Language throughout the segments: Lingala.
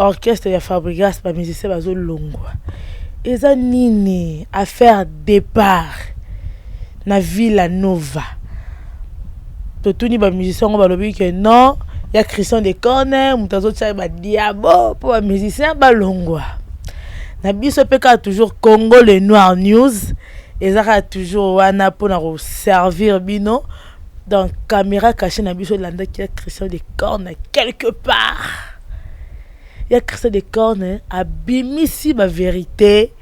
Orchestre ya Fabrigas ba musiciens bazo longwa. Eza nini affaire depart na Villa Nova. Totuni ba musiciens ngo balobi que non ya Christian de Corner moto azo tia ba diabo po ba musiciens balongwa. Na biso pe kaka toujours Congo le Noir News eza kaka toujours wana pona ko servir bino. donc camera cache na biso elandaki ya christian de corne quelque part ya christian de corne abimisi baverité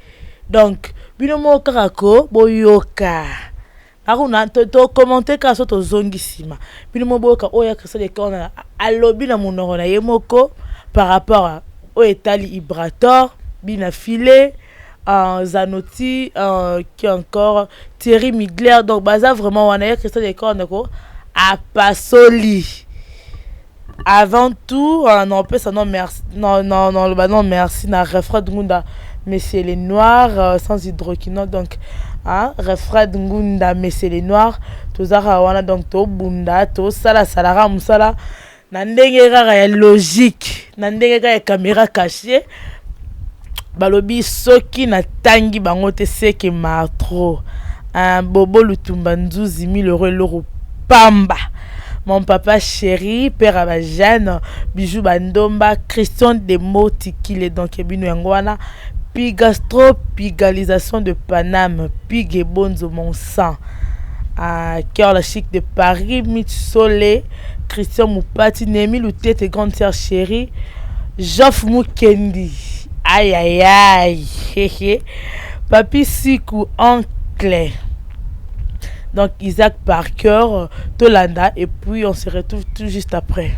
donc bino moko kaka ko boyoka akuna tokommente kaka so tozongi nsima bino moko boyoka oyo ya christian de corne alobi na monoko na ye moko par rapport oyo etali ibrator bina file uh, Zanoti uh, qui encore Thierry Migler donc baza vraiment wana ya Christian Decor ndeko apasoli avant tout uh, non pesa non merci non non non loba non merci na refrain ngunda Monsieur les Noirs uh, sans hydroquinone donc hein, refrain ngunda Monsieur les Noirs tozaka wana donc tobunda tosalasala musala Na ndenge kaka ya logique, na ndenge kaka ya camera cachee, balobi soki na tangi bango te ce que martro un bobo lutumba nzuzi mille euros eloko pamba mon papa chéri père ya bajane bijou bandomba christian demo tikile donc ebino yango wana pigastro pigalisation de paname pigue bonzo mon sang uh, cœur la chic de paris mit sole Christian Mupati, Nehemi Lutete, grande sœur chérie, Jeff Mukendi. Aïe aïe aïe. Papi Siku, oncle. Donc Isaac Parker, Tolanda, et puis on se retrouve tout juste après.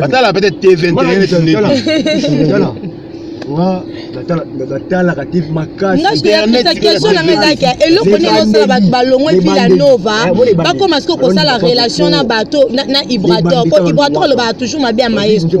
batala peut-être te 21 batalaka te makasieloko nini osala bato balongwe mpila nova bakoma siko kosala relation na bato na ibrator po ibrator alobaka toujours mabe ya maestro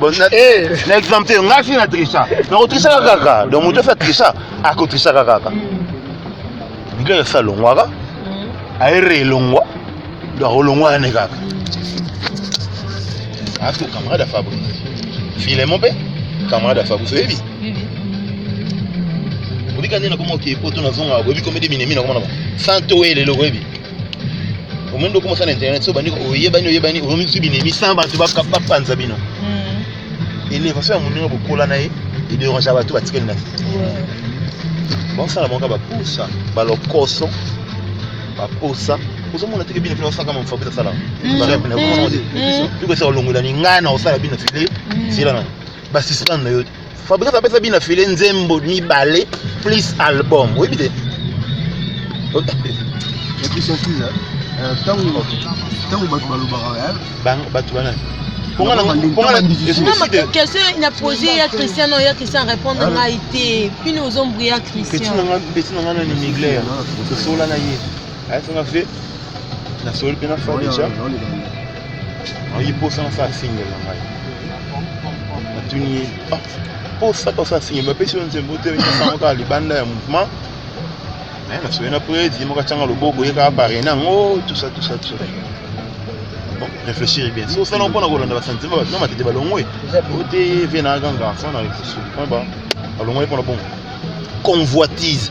Bon, na, eh. na exemple te ngai soki na trisa nakotrisaka kaka donc moto ofi atrisa akotrisaka kaka bilele esi alongwaka mm. aere elongwa donc akolongwa ane kaka ato camarade ya fabrice filemo mpe camarade ya fabrice oyebi obika nde nakoma oke poto nazongaka boyebi komede minemi nakoma na ba santo oyelelo oyebi omoni ndoko mosala internet so bandi oyebani oyebani oyomi bisu binemi sans bato bapanza bino hmm. elevation ya moninga bokola na ye ederangea bato batikali na baosala moko baposa balokoso baposa ozomona teke bino mpe osaka mamu fabrice asala bikosa olongola ningana osala bino file sila na basislan na yo te Fabrice apesa bina file nzembo mibale plus album oyebi te ntango euh, bato balobaka bato bana question na pose ya christian no ya christian répondre ah. ngai te mpino ozombri ya christian peti na ngai nani migler osola na ye ayesanga fe nasoli mpe na fa deja ayi posa na sala single na ngai natuni ye ah, posa ka osala single bapesi yo nzembo te sango kaka libanda ya mouvement me nasoye na predi ye moko atyanga loboko ye kaka parene yango tusa tusa tusa bon réfléchir bien so osala mpona kolanda basantima bato na matete balongwe ote vie na aganga sana réfléchir mpona balongwe mpona bongo convoitise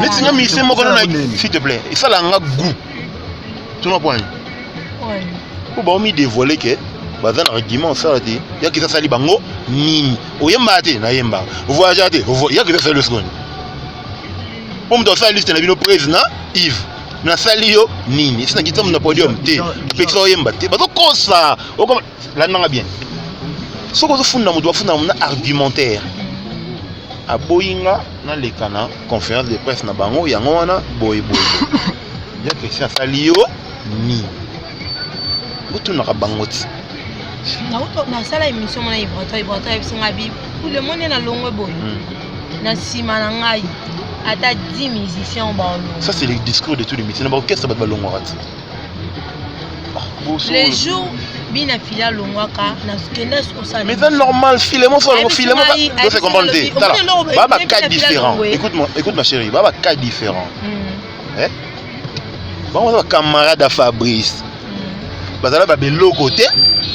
neti nga mise moko na s'il te plaît esala nga goût tuna pwani po baomi dévoile ke baza na argument osala te yaki eza sali bango nini oyembaka te nayembaka ovoyagea te yaki eza sali osikoyo po moto asala liste na bino prise na ive nasali yo nini esi nakitisa moto na podium te apekisa oyemba te bazokosa landa nga bien soki ozofunda moto bafunda na argumentaire aboyi nga naleka na conférence de presse na bango yango wana boye boye jean christian asali yo nini botunaka bango ti nasala émission mona ibrata ibrata ayebisi ngai bi le monde na longwe boye hmm. na nsima na ngai ata 10 musiciens balongwa ça c'est le discours de tous les métiers na baorchestre bato balongwaka ti le jour bina fila alongwaka nakenda kosala mais c'est normal file mo fala file mo do se comprendre te tala ba ba cas différents écoute moi écoute ma chérie ba ba cas différents mm. eh bango ba camarade ya Fabrice mm. bazala ba beloko te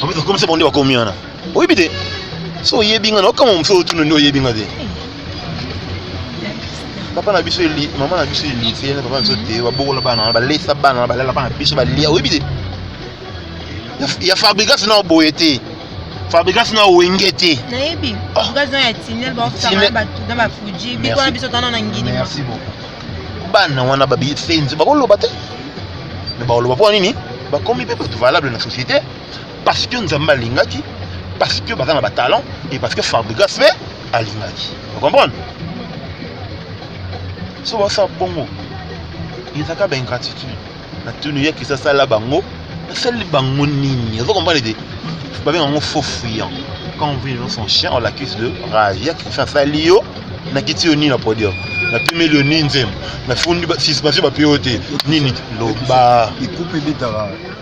en fait comme ça bon nde bakomi wana oyebi te so oyebi nga naokama mosusu otuna nde oyebi nga te papa na biso eli mama na biso elise na papa na biso te babokola bana wana balesa bana wana balala bana biso balia oyebi te ya fabrigas na oboye te fabrigas na owenge te nayebi fabrigas na ya tinel baosanga bato na bafuji biko na biso tana na ngini merci beaucoup bana wana babisenzi bakoloba te me bakoloba mpo nini bakomi mpe bato valable na société parce que nzambe alingaki parce que baza na batalent et parce que fabrigas mpe alingaki ocomprendre so basala bongo ezaka baingratitude na tuni ye kisa asala bango asali bango nini ozo comprendre te babenga yango faux fuyant quand on vit son chien on l'accuse de rage ya kisa asali yo nakiti yo nini na podium napimeli yo nini nzembo nafundi suspension bape yo te nini loba ekupe ebetaka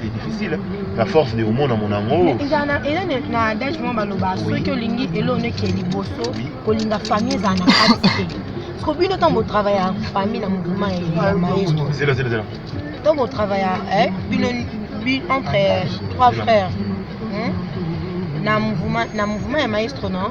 c'est difficile la force de omona mona yango eza na eza na adage mwa baloba soki olingi eloo neke liboso kolinga famille ezala na kati te parceke bino ntango botravaille ya famille na mouvement ya maestro ntango botravaille ya eh, bino entre euh, trois frères hmm? na mouvement ya maestro non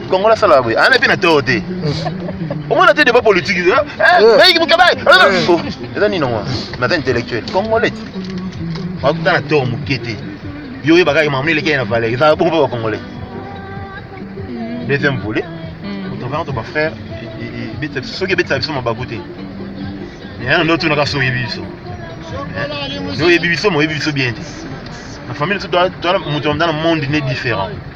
kongola asalaka boye ana mpe na too te omona te debat politique eh, eh, eh. baiki mokabai oh, eza nini yango naza intellectuel congolais bakuta na too moke te yo oyebaka makambo eleki ye na valeur ezalaka bongo mpe bacongolais mm. deuxième volet mm. otravers to bafrère soki ebetisa biso mabaku te yana nde otunaka so oyebi biso oyebi biso ma oyebi biso bien te na famille moto ya motana monde ne différent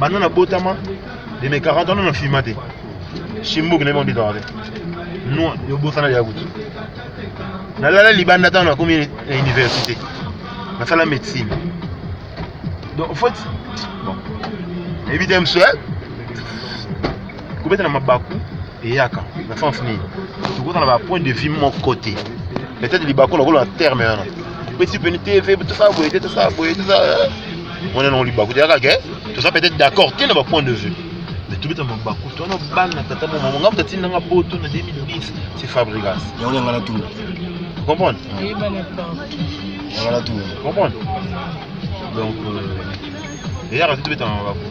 banda na botama de mes 40 ans na filma te shimbuki nayebi onditaka te no yobosana ya kutu nalala libanda ntango nakomi na université nasala médecine donc en fait bon nayebi te msue kobeta na mabaku eyaka na sens nini tokoza na bapoint de vue moko te peut-être libaku nakolo na terme wana pesi peni tv tosala boye te tosala boye tosala mwana nango libaku te yaka ke toza peut-être d'accord te na bapoint de vue mais tobeta mabaku to wana bana tata mama monga moto atinda nga poto na 2010 c'est fabrigas yango yanga na tuna comprendre yanga na tuna comprendre donc euh, eyaka te tobeta mabaku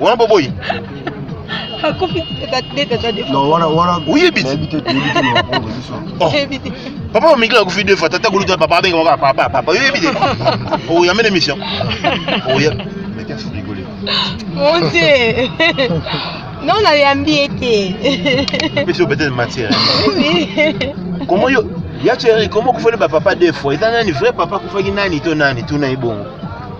wana boboyi papa omiki akufi deux fois tata kuluta papa abenga kaka papa papa oyebi te oyambe na émission oya mon dieu non nayambi ye te pesi obetele matière komo yo ya chéri komo okufeli bapapa deux fois eza nani vrai papa akufaki nani to nani tuna ye bongo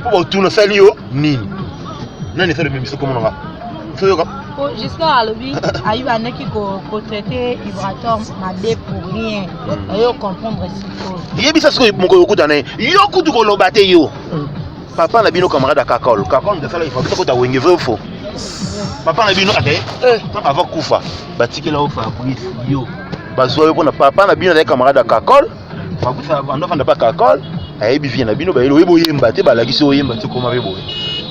Mpo bato nasali yo nini? Nani asali bemiso kombo na nga? Soyoka. Po Giscard alobi ayi bandaki ko ko traiter Ibratom mabe pour rien. Oyo comprendre sikoyo. Yebisa sikoyo mokolo okutana ye. Yo kutu koloba te yo. Papa na bino camarade ya Kakol. Kakol nde asala ifo kota wenge vrai ou faux? Papa na bino ate kaka ava kufa batikela yo Fabrice yo bazwa yo mpona papa na bino azali camarade ya Kakol makuta ando fanda pa kakol ayebi vie na bino bayelo oyebo yemba te balakisi oyemba te koma bebo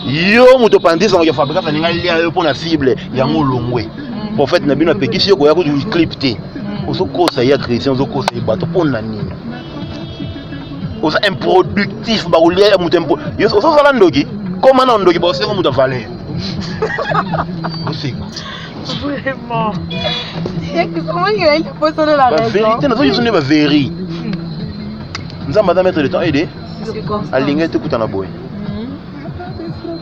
yo moto pandisa ngo ya fabrika faninga lia yo pona cible yango longwe mm. prophète na bino apekisi yo koya ko clip te mm. ozo kosa ya chrétien ozo kosa bato pona nini oza improductif bakolia ya moto impo ozozala ndoki koma na ndoki baosenga moto ya valeur oseka Vraiment. La vérité, nazo yusune ba veri. Nzamba da mettre le temps aide. Alinga ete kuta na boye.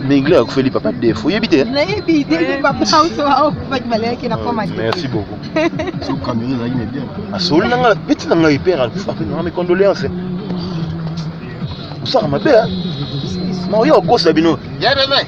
Mingle akufeli papa defo. Yebi te. Na yebi te papa auto au kufa kimale yake na koma. Merci beaucoup. Sous caméra là il est bien. Asoli na nga petit na nga hyper akufa. Na mes condoléances. Osaka mabe hein. Mario okosa bino. Yebe me.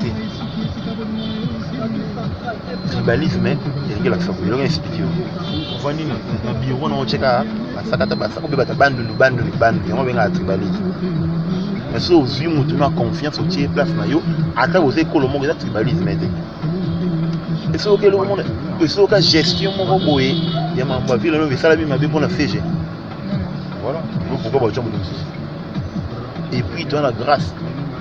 te tribalisme elingi elakisa boye eloko explike yo ovandi na biro na otyeka basakata basaka obe bata bandundu bandundu bandundu yango obengaka tribalisme mais soki ozwi motu na confiance otye place na yo ata boza ekolo moko eza tribalisme te esoki eloko mona esoka gestion moko boye ya mambo ya ville lobi esalami mabe mpona fege voilà pourquoi baotya moto mosusu et puis toza na grâce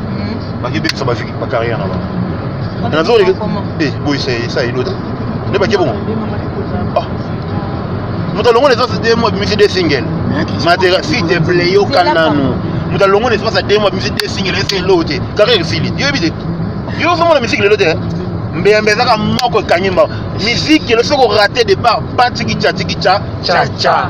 hmm. baki bebisa ba ba carrière na bango na nazo le eh boy c'est ça il autre ne baki bongo ah moto alongo na espace de mois bimisi de single matera si te plaît yo kanano moto alongo na espace de mois bimisi de single ese elo te carrière esili yo bide yo somo na musique lelo te mbeyambe ezaka moko ekangi mbango miziki elo soki orate départ batikica tikica caca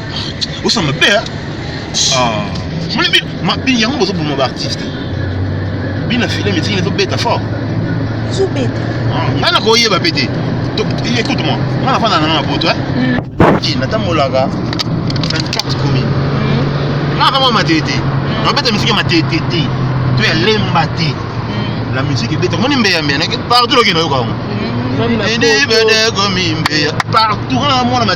osa mabe hein? ah. moni bi mabe yango bozoboma baartiste bina filme etingi ezobeta fort ezobeta ah, ngai nakoyeba mpe te écoute moi ngai nafanda nanga na poto hmm. natambolaka 24 commune hmm. nanga kama matete hmm. nabeta misiki ya matete te to ya lemba te la musique ebeta moni mbeya mbeya partout loki nayoka yango partout na mwana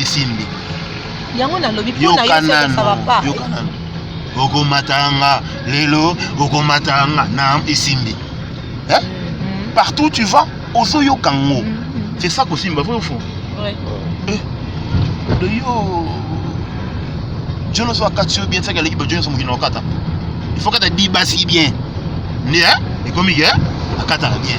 esimbi yango nalobi mpo na yo sokosaba pa okomatanga lelo okomatanga na esimbi eh? mm. partout tu vas ozoyoka ngo mm, mm. c'est ça kosimba vrai fond ouais. eh, de yo john oso akati yo bien saki aleki bajohn oso mokino okata il faut kata dibasi bien nde eh? ekomi ke eh? akataka bien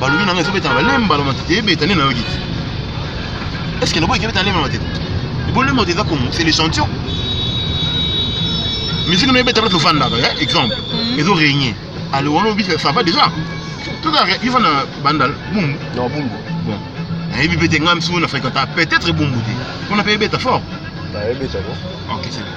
balobi na ngai ezobeta na balemba na matete ebeta nde nayoki te eske lobo ekebeta na lemba na matete bolemba matete eza kongo c'est l'échantillon misiki noyebeta place ofandaka ya exemple mhm. ezo régner alors wana obisa ça va déjà tozalaka ifa na bandal bumbu na bumbu bon nayebi mpe te ngai misusu na fréquenta peut-être bumbu te mpona mpe ebeta fort ok c'est bon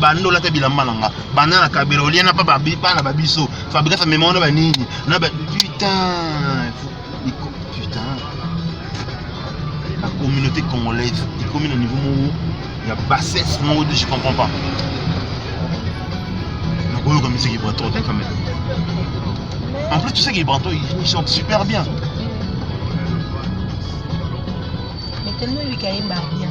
banda olata bilamba na nga banda na kabela olia na papa bana ba biso fabrikasa mema wana banini na ba putain putain la communauté congolaise ekomi na niveau moko ya bassesse moko de je comprends pas nakoyoka musique ibrato te quand même en plus tu sais qu'ibrato il chante super bien mais tellement lui kayemba bien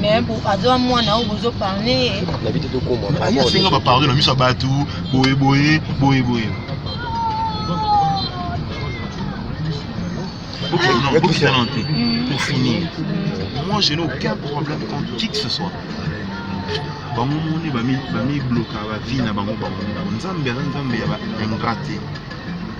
mais aza mwana oyo bozo parne ye nabi te tokoma aye asenga bapardon na miso ya bato boye boye boye boye Occident, mm. pour finir, mm. moi je n'ai aucun problème contre qui que ce soit. bango moni bamibloka bavie na bango bango nzambe aza nzambe ya baingrate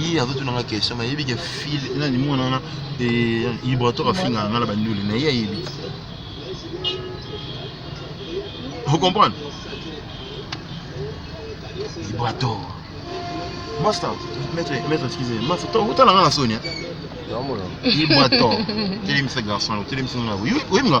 ye azotuna nga question mais ayebi ke fil nani mwana wana ibrator afingaka nga na bandule na ye ayebi ocomprendre ibrator masta maître maître excuse masta otala nga na soni ibrator telemisa garçon telemisa nga oyebi nga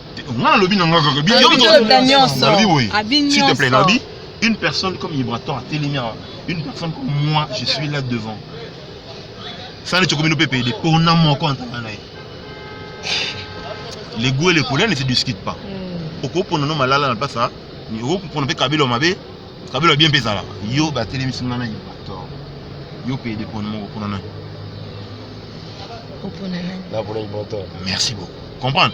nga nalobi na nga kaka nalobi boye s'il te plaît nalobi une personne comme Ibrator atelemi awa une personne comme moi je suis là devant sani cokomi no pepe de pona moko antanga na ye le goût et le colère ne se discute pas hmm. okopona no malala na place okopona mpe kabelo mabe kabelo bien mpe ezalaka yo batelemisi nga na Ibrator yo mpe de pona moko pona nani merci beaucoup comprendre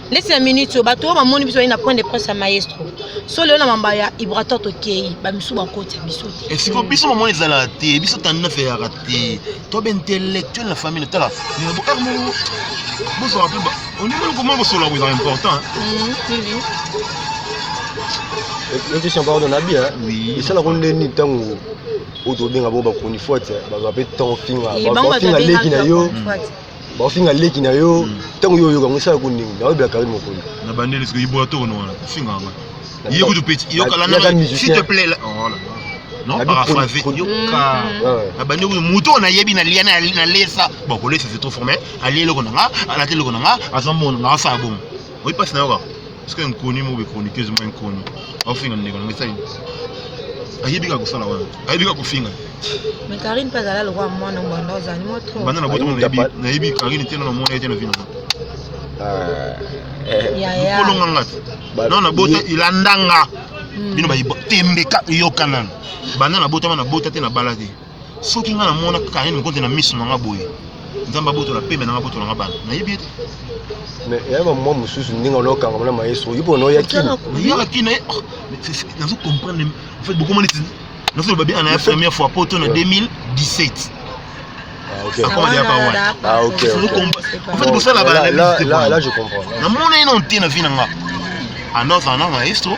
ndeti na minute oyo bato oyo bamoni biso bali na point de presse ya maestro so lelo na mamba ya ibrator tokei bamisu bakoti ya biso te esiko biso mamo ezalaka te biso tando nafeyaka te to baintellectuel na famille tala bokaka moko bozala mpe onimoni komona kosolola ko ezala important question pardon nabi esala ko ndeni ntango oyo tobenga bango bachronifuate bazwa mpe temps finga finga leki na yo bakofinga leki na yo ntango yo oyoka yango esala ko ndenge na oyebela karine mokolo na bandeli siko ibola to ono wana kofinga yanga ye kutu peti yokala na s'il te plaît oh non paraphrase yoka na bandi kutu moto oyo nayebi na lia na lesa bon kolesa c'est trop formel alie eloko na nga alati eloko na nga aza mona nga asala bongo oyi mpasi na yoka Est-ce que inconnue moko chroniqueuse moko inconnue afinga ndeko na ngai ayebi kaka kosala wana ayebi kaka kofinga me karine mpe azala lokola mwana mbanda ozali mwa tro banda na boto nayebi karine te nana mwana ye te na vino kolonga nga te nao na bota ilandanga hmm. bino bayi tembe ka yokanana banda na botama na bota te na bala te soki nga namona Carine Mokonte na miso na nga boye nzambe abotola pembe na nga abotola nga bana nayebi ete mais eya bamwa mosusu ndenge olokanga mona maestro yo mpona oya kini oyaka kini naye oh, nazo comprendre en fait bokoma neti nazoloba bien na ya première fois poto na 2017 namona ye na nte na vi na nga anoza na maestro